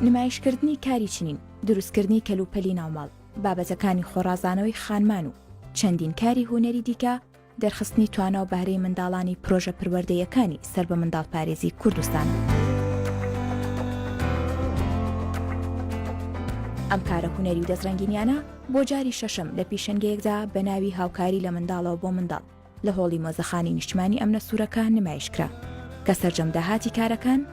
نمایشکردنی کاری چنین دروستکردنی کەلوپەلی ناوماڵ بابەتەکانی خۆڕازانەوەی خانمان و چەندین کاری هوەری دیکە دەرخستنی توانا و بەهرەی منداڵانی پرۆژە پروەردەییەکانی سەر بە منداڵپارێزی کوردستان. ئەم کارە هونەری و دەستڕەنگینیانە بۆ جاری شەشەم لە پیشەنگەیەکدا بە ناوی هاوکاری لە منداڵەوە بۆ منداڵ لە هۆڵی مۆزەخانی نیشتمانی ئەمنە سوورەکە نمایشکرا کە سەرجەم داهاتی کارەکان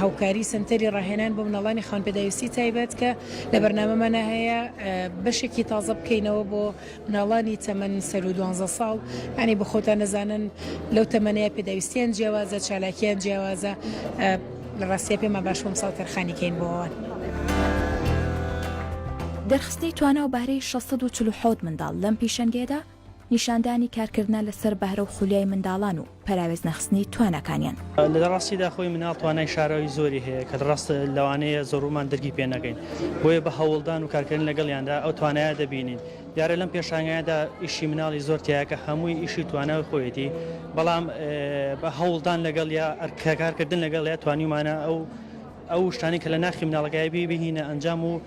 هاوکاری سەنتەری ڕاهێنان بۆ مناڵانی خاوەن پێداویستی تایبەت کە لە بەرنامەمانە هەیە بەشێکی تازە بکەینەوە بۆ مناڵانی تەمەن سەر و دوانزە ساڵ ئەنی بخۆتان نەزانن لەو تەمەنەیە پێداویستیان جیاوازە چالاکیان جیاوازە لە ڕاستە پێمە باش بۆم ساڵ تەرخانیکەین بۆوان. دەرخستنی توانا و بەهرەی شەش سەد و چل و حەوت منداڵ لەم پیشەنگەیەدا، نیشاندانی کارکردنە لەسەر بەهرە و خولیای منداڵان و پەراوێزنەخستنی تواناکانیان. لە ڕاستیدا خۆی منداڵ توانای شاراوی زۆری هەیە کە ڕاست لەوانەیە زۆربەمان درکی پێ نەکەین، بۆیە بە هەوڵدان و کارکردن لەگەڵیاندا ئەو توانایە دەبینین. دیارە لەم پێشانگایەدا ئیشی منداڵی زۆر تیایە کە هەمووی ئیشی و توانای خۆیەتی، بەڵام بە هەوڵدان لەگەڵیا، کارکردن لەگەڵیا توانیومانە ئەو شتانەی کە لە ناخی منداڵەکەیا بی بهینە ئەنجام و